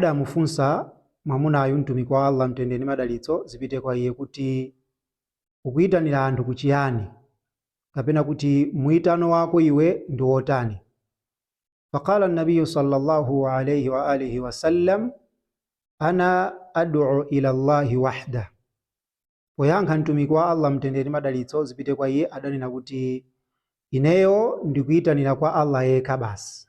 adamufunsa mwamunayu Mtumiki wa Allah Mtendere ndi Madalitso zipite kwa iye kuti, Ukuitanira anthu ku chiyani? Kapena kuti muitano wako iwe ndi wotani? Faqala Nabiyyu sallallahu alayhi wa alihi wa sallam, Ana ad'u ila Allahi wahda. Poyankha Mtumiki wa Allah Mtendere ndi Madalitso zipite kwa iye adanena kuti, Ineyo ndikuitanira kwa Allah yekha basi.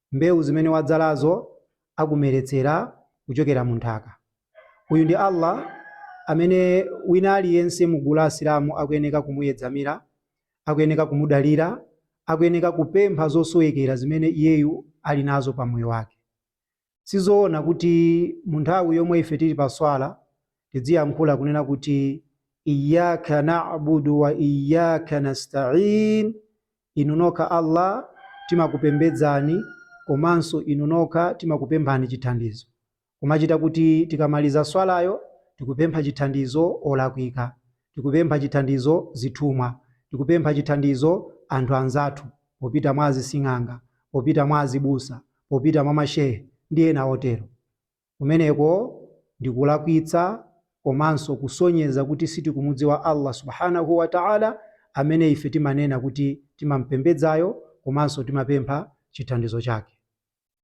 mbewu zimene wadzalazo akumeretsera kuchokera mu nthaka. Uyu ndi Allah amene wina aliyense mu gulu la Asilamu akuyeneka kumuyedzamira, akuyeneka kumudalira, akuyeneka kupempha zosowekera zimene iyeyu ali nazo pa moyo wake. Sizoona kuti mu nthawi yomwe ife tili pa swala tidziyankhula kunena kuti Iyyaka na'budu wa Iyyaka nasta'in, Inu nokha Allah timakupembedzani komanso Inu nokha timakupemphani chithandizo. Kumachita kuti tikamaliza swalayo tikupempha chithandizo olakwika, tikupempha chithandizo zithumwa, tikupempha chithandizo anthu anzathu, popita mwa azising'anga, popita mwa azibusa, popita mwa mashehe ndi ena otero. Kumeneko ndikulakwitsa komanso kusonyeza kuti sitikumudziwa Allah Subhaanahu wa Ta'ala amene ife timanena kuti timam'pembedzayo komanso timapempha chithandizo chake.